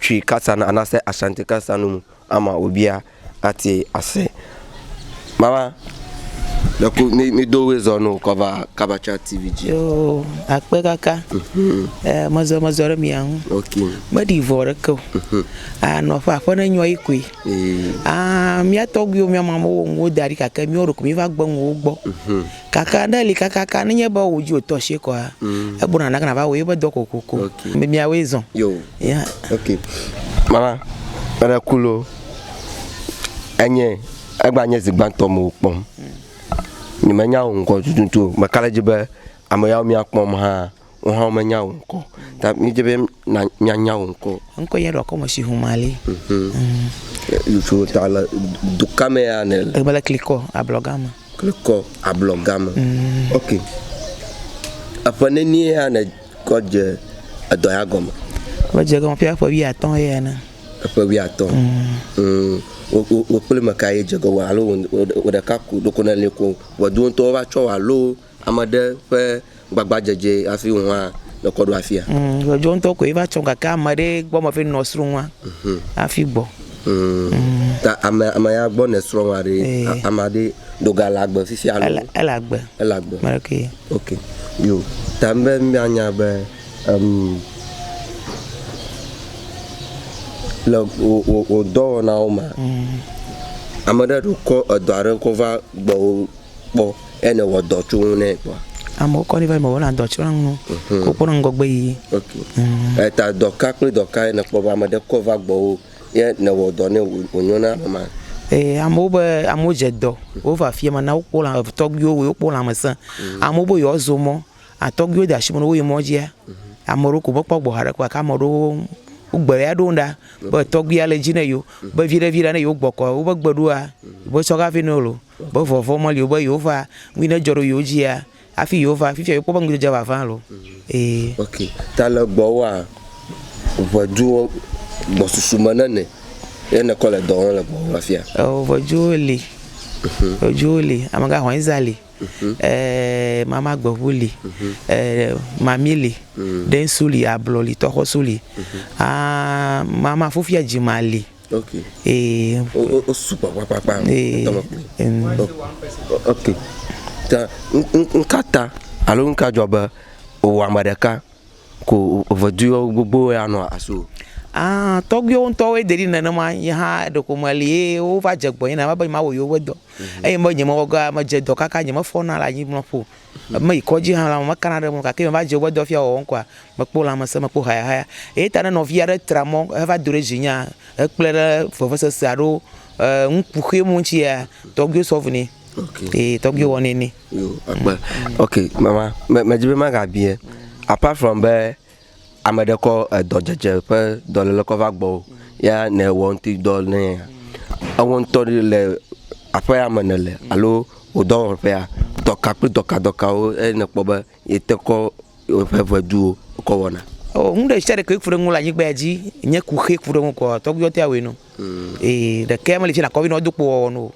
Twi kasan anase Ashanti kasanu mu ama wobia ati ase. Mama ɖeku mi mi do wezɔ no kɔva kabacha TV dzi. Yoo akpe kaka. Mhm. E mezɔ mezɔ ɖe mia ŋu. Ok. Meɖi vɔ ɖeke o. Mhm. A nɔ ƒe aƒe ne nyɔ yi koe. Ee. A mia tɔgbiwo mia mamowo ŋu wo da ɖi gake mia ɖeko mi va gbe ŋu wo gbɔ. Mhm. Kaka aɖe li kakaka ne nye be wò dzi wòtɔ asie kɔa, egblɔ na nake nàva wɔ yewo ƒe dɔ kokoko. Ame miawoe zɔ. Yo. Ya. Ok. Mama, meɖe ku loo, enye, egba nye zi gbãtɔ mewò kpɔm. Nye menya wò ŋkɔ tututu o. Meka ɖe edzi be ame yawo mia kpɔm hã Wohã womenya wò ŋkɔ o. Ta míedi be na míanya wò ŋkɔ. Ŋkɔ yɛ ɖo akɔme si home ale. Ŋutsuwo ta le duka me ya ne le. Ebe le klikɔ ablɔ game. Klikɔ ablɔ game. Ok. Eƒe nenie ya ne kɔ dze edɔ ya gɔme? Kɔ dze gɔme ƒe eƒe wi atɔ ya ne. Eƒe wi atɔ. Mm. Wo wo wo kple me ka ye dze gɔme alo wo wo ɖeka ko ɖoko ne le ko. Wɔ do ŋutɔ va tsɔ wa lo. Ame ɖe ƒe gbagba dzedze hafi ŋu hã ne kɔ ɖo afia. Ŋ, dɔdzɔ ŋutɔ koe va tsɔm gake ame ɖe gbɔ me ƒe nɔ srɔ̃ ŋua hafi gbɔ. Ŋ, ta ame, ame ya gbɔ ne srɔ̃ ŋua ɖe, ame ɖe ɖo ga le agbe fifia alo? Ele, ele agbe. Ele agbe. Ame ɖekee. Ok. Yo. Ta be mía nya be, em, le wò, wò, wò dɔwɔnawo mea, ame ɖe ɖo kɔ edɔ aɖe kɔ va gbɔwò kpɔ. Eya ne wɔ dɔ tso ŋu nɛ kpɔ. Amewo kɔ ni va yi me wɔ na dɔ tso ŋu no. Mhm. Wo kpɔ na ŋgɔgbe yi. Ok. Mhm. Eta dɔ ka kple dɔ ka ye ne kpɔ va ame ɖe kɔ va gbɔ wo ye ne wɔ dɔ ne wo nyo na ame ma? Ee, amewo be amewo dze dɔ wo va fia ma na wo kpɔ la tɔgbi wo wo kpɔ la me se. Mhm. Amewo be yewoa zo mɔ atɔgbi wo de asi me na wo yi mɔ dzia. Mhm. Ame ɖewo ko me kpɔ gbɔ ha ɖe kpɔ gake ame ɖewo wo gbe ya ɖo ŋu ɖa be tɔgbi ya le dzi ne yewo be viɖe viɖe ne yewo gbɔ kɔ wo be gbe ɖoa. Wo tsɔ ga vɛ na wo loo. Be vɔvɔ̃ meli o be yewova ŋui nedzɔ ɖe yewo dzia hafi yewova. Fifia yewokpɔ be ŋudzedze ʋaʋã loo. Ee. Ok. Ta le gbɔwòa, ŋɛdzuwo gbɔsusu me nene ye nèkɔ le dɔ wɔm le gbɔwò afia? Eo, ŋɛdzuwo li. Ŋɛdzuwo li. Amegãhɔnyiza li. E, mamagbeŋu li. E, mami li. Ɖɛnsu li, ablɔ li, tɔxɔsu li. Aa, mamafufia dzima li. Okay. Ee. O, o, sugbɔ kpakpakpa. Ee. Okay. Ta, nka ta, alo nka dzɔ be, wò ame ɖeka, ko veduiwo gbogbo ya nɔ aso. Ah, tɔgbuiwo ŋutɔwoe de ɖi nenema, nye hã ɖeko meli ye wova dze gbɔnye nenema be nye ma wɔ yewo be dɔ. Eye mebe nye me wɔ ga, me dze dɔ kaka nye me fɔna le anyimlɔƒo Mèyi kɔdzi hã la, mekana ɖe eme o, gake meva dze woƒe dɔfia wɔwɔm koa, mekpɔ lãmesẽ, mekpɔ hayahaya. Eyata ne nɔvi aɖe tra mɔ heva do ɖe dzinyea, hekplɔe ɖe vevesese alo nukuxi me ŋutia, tɔgbuiwo sɔ vu nɛ. Ee, tɔgbuiwo wɔnɛ nɛ. Yo, ekpɔe. Ok, mama, me, medzi be magabie. Apart from be Ame ɖe kɔ edɔ dzedze ƒe dɔlele kɔ va gbɔwò ya nɛ wɔ ŋuti dɔ nɛ. Ewɔ ŋutɔ ɖe le aƒea me nele alo wò dɔwɔƒea. Dɔka kple dɔka dɔkawo eye nɛ kpɔ be yete kɔ woƒe ŋɛduwo kɔ wɔna. O nu ɖe sia ɖe ke ku ɖe ŋu le anyigba ya dzi nye ku xe ku ɖe ŋu kɔ tɔgbuiwɔ tea wɔe nɔ. Ee ɖekea mele tse nakɔ be nɔ do kpo wɔwɔ nɔ o.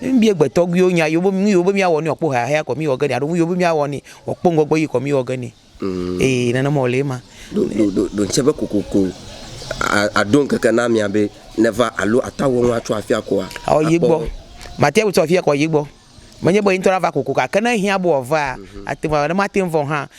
Ne míbia gbe tɔgbuiwo nya yewo be nu yewo be míawɔ ne yewoakpɔ hehea kɔ míwɔ ge nɛ alo nu yewo be míawɔ ne yewoakpɔ ŋgɔgbe yi kɔ míwɔ ge nɛ. Ee, nenema wòle ema. Ɖo, ɖo, ɖo, ɖo ŋsẽ be kokoko a, aɖo ŋkeke na amea be neva alo ato awɔ nu atso afia koa, Awɔ yi gbɔ. akpɔ. Mate ŋu tso afia kɔ yi gbɔ. Menye be ye ŋutɔ ava kokoko o, gake ne ehiã be wòavaa, ate ŋu ava. Ne mate ŋu va o hã,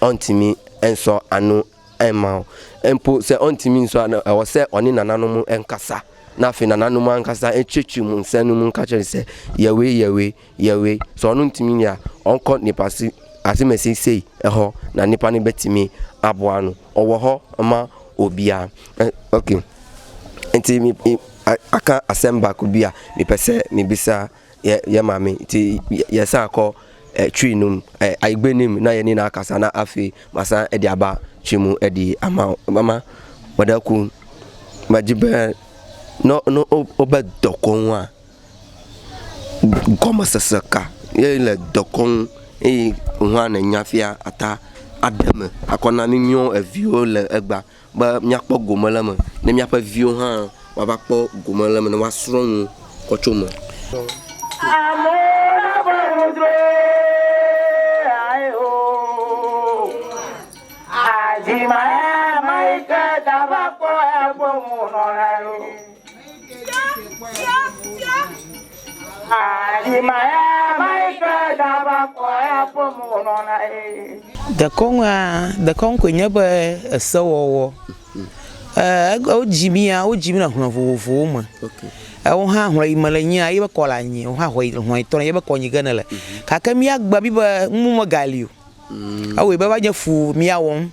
ɔ ŋti mi e ŋsɔ anu e ma ɔ e ŋpo se ɔ ŋti mi ŋsɔ anu e ɔ se ɔ ni nana nu mu e ŋka sa na fi nana nu mu a ŋka sa e tse tsu mu ŋse nu mu ŋka tse ŋse yɛwe yɛwe yɛwe sɔ ɔ nu ŋti mi ya ɔ ŋkɔ nipa si asi me si sei e xɔ na nipa ni be ti mi a bɔ anu ɔ wɔ xɔ e ma o bia e ɔ ke ŋti mi i a ka a sɛm ba ku bia mi pese mi bisa. Ye ye mami ti ye sa kɔ e chui num e aigbe nim na ye ni na kasa na afi masa edi aba chui mu edi ama mama wede ku ma ji be no no o o be dɔkɔnua gɔme sese ka ye le dɔkɔnu eye nua ne nya fia ata aɖeme akɔ na mi miɔ eviwo le egba. Be míakpɔ gome le eme, ne míaƒe viwo hã woava kpɔ gome le eme, ne woasrɔ̃ nu kɔ tso eme. Dekɔnua, dekɔnu koe nye be esewɔwɔ. Wodzi mía, wodzi mí le hlɔ̃ vovovowo me. Ewo hã hlɔ̃ yi mele nyia, ye be kɔ le anyi. Wò hã hlɔ̃ yi tɔ le anyi ye be kɔ yi ke nèle. Gake mía agbe mí be nuwo megali o. Ewɔe be eva nye fu mía wɔm.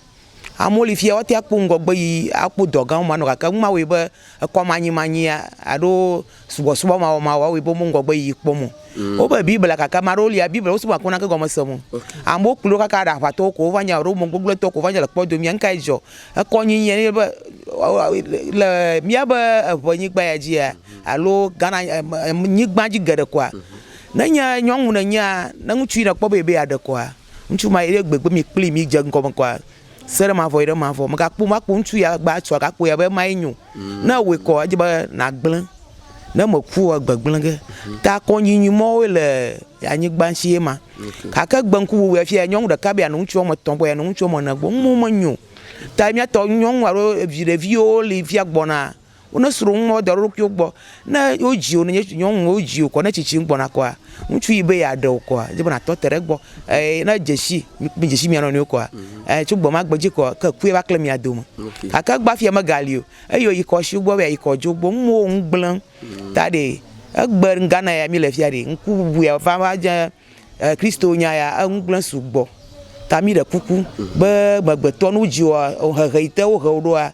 Amewo li fia woate ŋu akpɔ ŋgɔgbeyiyi, akpɔ dɔ gãwo manɔ gake nu ma wɔe be ekɔmanyimanyi alo subɔsubɔmawɔmawɔ awɔe be wome ŋgɔgbeyiyi kpɔm o. Wobe Biblia gake ame aɖewo lia Biblia wosubɔna gake womena naneke gɔmesese wo o. Amewo kplɔe ɖo kaka aɖe aʋatɔwo koe wova nye alo ame gbegblẽtɔwo koe wova nye le kpɔdomea. Nu kae dzɔ? Ekɔnyinyi yea nye be le míaƒe eŋɛnyigba ya dzia alo Ghana nyigba dzi geɖe koa, ne nye nyɔnu nènyea, ne ŋutsu yi nèkpɔ be yeaɖe kɔa, Ŋutsu ma yi ɖe gbegbe mi kpli mi dze ŋgɔ me kɔa se ɖe mavɔ yi ɖe mavɔ mekpɔ makpɔ ŋutsu ya gba tsɔ agakpɔ ya be ma yi nyo mm. ne wòe kɔ edze be na gblẽ ne me ku wa gbegblẽ ge mm. ta kɔ nyi nyi mɔ wòe le anyigba ŋuti ye ma kake gbe ŋku wuwu ya fia nyɔnu ɖeka bi anɔ ŋutsu wɔme tɔn gbɔ ya nɔ ŋutsu wɔme ne gbɔ ŋu me nyo ta mi atɔ nyɔnu alo evi ɖeviwo li fia gbɔna. Wo ne sro ŋume wo da ɖo ɖokui wo gbɔ. Ne wo dzi wo ne nye nyɔnu wo dzi wo kɔ ne tsitsi ŋgbɔ na kɔa ŋutsu yi be ya ɖe wo kɔa dze be na tɔ te ɖe gbɔ eye ne dze si mi dze si mia nɔnɔe wo kɔa eye tso gbɔ ma gbe dzi kɔa ke kue va kle mia do me. Ake gba fia me ga li o eye yi kɔ si wo gbɔ be ya yi kɔ dze wo gbɔ ŋume wo ŋu gble ta ɖe egbe Ghana ya mi le fia ɖe ŋku bubu ya va va dze Christo nya ya eŋu gble sugbɔ ta mi ɖe kuku be me gbe tɔ nu dzi woa hehe yi te wo he wo ɖoa.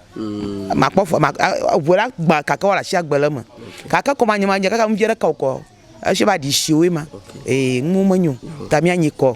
Makpɔ fɔ, mak, eŋu la gbã kake woala shi agbe le eme. Kake kɔ manyɔ manyɔ kaka ŋuvia ɖe ka wokɔ. Eshi va ɖi shi woe ma. Ee, nuwo menyo ta mia nyi kɔ.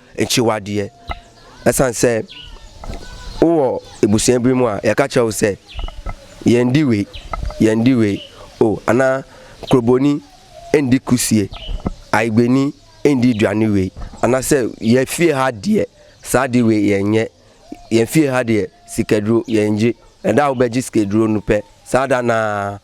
Ŋtsi wa ɖiɛ esan sɛ wo wɔ ebusɛn bui mua ya ka tsɛwo sɛ yɛ ŋdi we yɛ ŋdi we o ana klobo ni e ŋdi kusie ayi gbe ni e ŋdi dua ni we ana sɛ yɛ fie ha ɖiɛ sa ɖi we yɛ ŋɛ yɛ fie ha ɖiɛ sike ɖro yɛ ŋdzi eɖa wo bɛ dzi sike ɖro nu pɛ sa ɖa naa.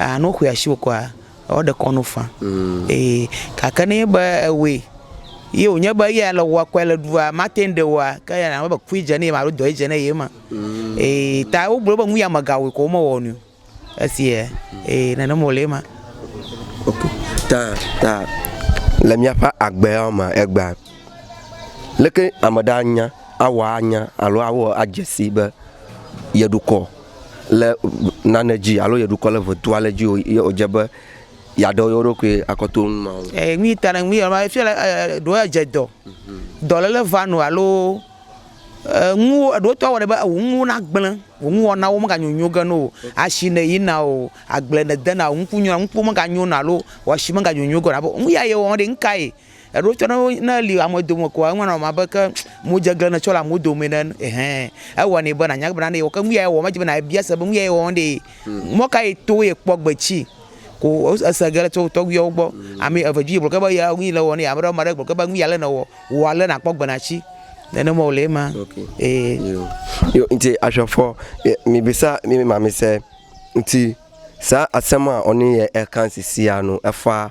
Aa, ne woxɔe asiwò kɔa, ewɔ ɖe kɔnu fã. Ee, gake ne nye be ewɔe, ye wònye be eya le wɔa kɔe le ɖua, mate ŋu ɖe wɔa, ke eya nava be kui dze ne ye me alo dɔe dze ne ye me. Ee, ta wogblɔ be nu ya me gawɔe kɔ womewɔ nui o. Eseɛ? Ee, nene me wòle ema. Ok, ta, ta le míaƒe agbeawo mea, egbea, leke ame ɖe anya, awɔ anya alo awɔ adze sii be yeɖo kɔ? le nane dzi alo ye ɖukɔ le ʋe do ale dzi o ye o dze be ya ɖe yewo ɖokui akɔ to ŋu ma o. E nui ta na ŋu yɔ ma efiɔ le e ɖo ya dze dɔ. Dɔ le le va no alo e ŋu wo eɖo tɔ wɔ ɖe be ŋu ŋu wo na gble ŋu ŋu wɔna wo me ga nyo nyo ge no o. Ashi ne yi na o agble ne de na o ŋku nyo ŋku me ga nyo na alo wɔshi me ga nyo nyo ge na bo ŋu ya ye wɔ ŋɖe ŋka ye Eɖewo tsɛ ne wo, ne eli ame dome koa, eŋua nɔ ame abe ke modzeglen nètsɔ le amewo dome ene. Ɛhɛɛ, ewɔnɛ be nànya bena ne yewɔ. Ke nu yae wɔ, medze be nàbia se be nu yae wɔm ɖee. Mɔ kae to yekpɔ gbe ci ko ese ge le tso tɔgbuiawo gbɔ? Ame eve dzi gblɔ ge be ya nu yi le wɔm nɛ. Ame ɖewo, ame ɖe gblɔ ge be nu yi ale nèwɔ, wɔ ale nàkpɔ gbe nàtsi. Nene mɔ wòle ema. Ee. Yo. Yo, ŋtsi ashɔfɔ ye mibisa mi mi ma mi se ŋtsi sa asema ɔni ye ekan sisia nu efa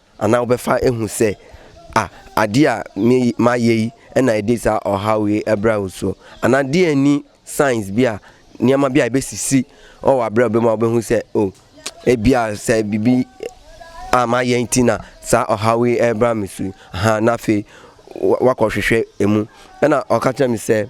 Ana wobe fa ehu se a adia mi ma yei ena ede sa ɔ ha we ebra wo so. Ana die ni signs bia ni ama bia ebe sisi ɔ wa bra be ma be hu se o e bia se bibi a ma yei tina sa ɔ ha we ebra mi so ha na fe wa kɔ hwehwe emu. Ena ɔ ka tra mi se.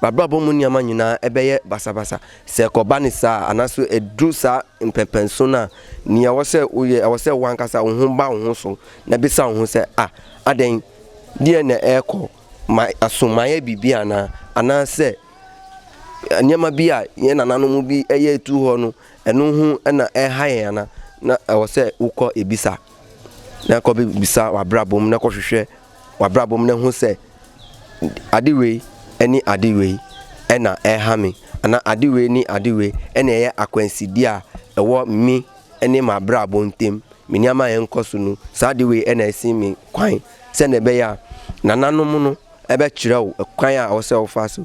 Ba bla bo munia ma nyina ebe ye basabasa se kɔ bani sa anasu edu sa mpɛnpɛn so na ni awɔ se u ye awɔ se wan kasa uhun ba uhun so na bi sa uhun se a aden di ye ne e kɔ ma asun ma ye bi bi ana ana se nia ma bi a ye nana no mu bi eye tu hɔ no enu hun ena e ha ye ana na awɔ se u kɔ ebi sa na kɔ bi bi sa wa bla bo mu na kɔ hwehwe wabra bom ne ŋu se adi we eni adi we ena e ha mi ana adi we ni adi we ene ye akwen si dia ewɔ mi ene ma bra bom tem mi ni ama en kɔ sunu sa adi we ena esi mi kwain se ne be ya nana no mu no ebe tsirɛ o kwain a ɔsɛ o fa so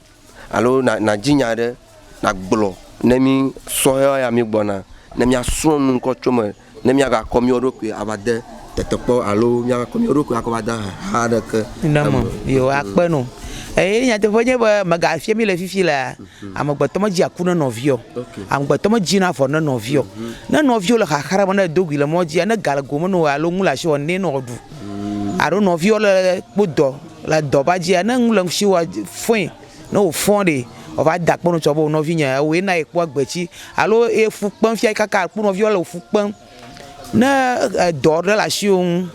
alo nàdi nya aɖe nàgblɔ ne mí sɔhɛwo ya mígbɔna ne míasrɔ̃ nu ŋkɔ tso eme ne míagakɔ mía ɖokui ava de tetekpɔ alo míagakɔ mía ɖokui akɔ va de ahaha aɖeke eme o. Yo, akpe nu. Eye nyateƒe nye be mègafia mí le fifi lea, mhm. amegbetɔ medzi aku ne nɔviɔ. Amegbetɔ medzina vɔ ne nɔviɔ. Mhm. Ne nɔviwo le xaxa me ne edo gui le mɔdzia, ne ga le gome na wò alo nu le asi wɔ nɛ ne wòaɖu. Mhm. Alo nɔviwo le kpodɔ Le dɔ va dzia, ne nu le ŋutsi wa fɔe, ne wò fɔ ɖe, wò va da akpe nu tsɔ be wò nɔvi nye ewɔe na ye kpɔ agbe tsi. Alo ye fu kpem fia kaka akpɔ nɔviɔ le wò fu kpem. Ne edɔ ɖe le ashiwò nu,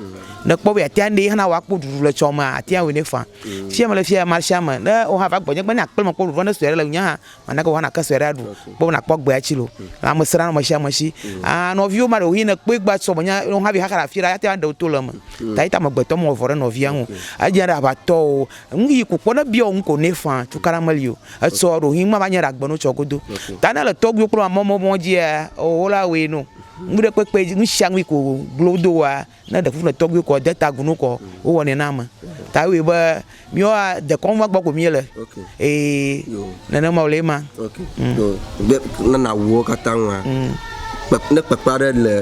ne kpɔ be atea nɛ hana wa kpɔ ɖuɖu le tsɔ mea, atea wɔe nɛ faa. Fia mele fia mashame, ne wò hã va gbɔ nye be ne akple me kpɔ ɖuɖu va ne sɔe ɖe le ŋunye hã. Mana ke woana ke sue ɖe aɖu. Kpɔ be nakpɔ agbe atsi lo. Lãme sẽ ɖe ame sia ame si. Aa nɔviwo ma ɖewo yi nekpɔe gba sɔ be nya ne wohavi xaxa le afi ɖe ate ŋu aɖe wo to le eme. Ta yi ta amegbetɔ mewɔ vɔ̃ ɖe nɔvia ŋu o. Edze abe aʋatɔ o. Nu yi ku kpɔ ne ebia wò nu ko nɛ faa tukaɖa meli o. Etsɔ ɖo hin mava nye ɖe agbe nu tsɔ godo. Ta ne le tɔgbuiwo kple mamemɔwo dzia, oo wola wɔe nɛ o. Nuɖekpekpe dzi nusianu yi ko glo do woa. Ne ɖe ƒuƒle tɔgbi kɔ de ta gunu kɔ wo wɔ nɛ na ame ta ewe be mioa de kɔn va gbɔ ko mie le okay. ee ne ne ma wole ma okay. mm. de ne na wo kata ŋua mm. kpe, ne kpekpe aɖe le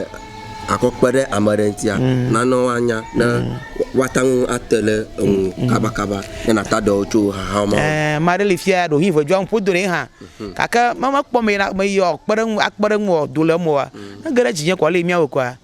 akɔ kpe ɖe ame aɖe ŋutia mm. na ne wa nya ne mm. wa ta ŋu ate le eŋu mm. kaba kaba ne na ta dɔ tso haha ma eh ma ɖe le fia ɖo hi ve jwa ŋpo do ne ha mhm. kake ma ma kpɔ me na me yɔ kpe ɖe ŋu akpe ɖe ŋu do le mo wa ne gere dzi nye ko le mia wo ko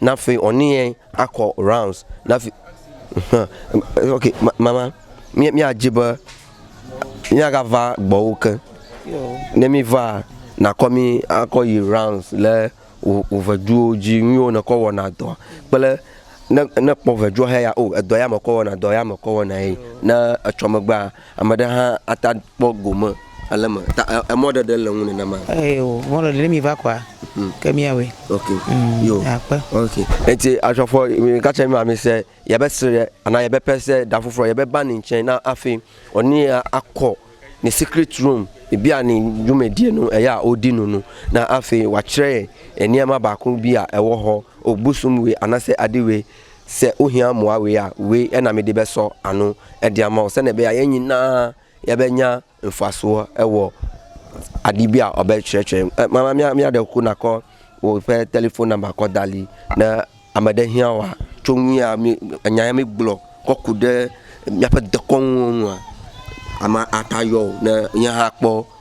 Nafi ɔniɛ akɔ rounds nafi ŋhh ok mama mia dji be mia ga va gbɔwo ke ne mi va na kɔ mi akɔ yi rounds le wo veduwo dji nuyiwo ne kɔ wɔ na dɔa kple ne kpɔ vedua he ya o edɔ ya me kɔ wɔ na dɔ ya me kɔ wɔ na ye ne etsɔ megbea. Ame ɖe hã ata kpɔ gome ale me ta e, emɔ ɖe ɖe le ŋu nenema. Eye o mɔ ɖe ɖe mi va kɔa. Mm. Ke mi awe. Ok. Mm. Yo. Akpe. Ok. Eti asɔfɔ mi ka cɛ mi ma mi se ya be sre ana ya be pese da fufro ya be bani cɛ na afi oni ya akɔ ni secret room bi ani jume die no eya o di no no na afi wa cɛ enia ma ba kun bi a ewo ho o busum we ana se adiwe Se wohiã mɔ a wea we ena mi ɖi be sɔ anu edia mɔ se ne be aye nyi na ya be nya nfa so ewɔ aɖi bia ɔ be tsɔe tsɔe e mama mia mia ɖe ku na kɔ wo ƒe telefon nɔmba kɔ da li ne ame ɖe hiã wa tso nu ya mi enya ya mi gblɔ kɔ ku ɖe miaƒe dekɔnu nua ama ata yɔ o ne nye hã kpɔ.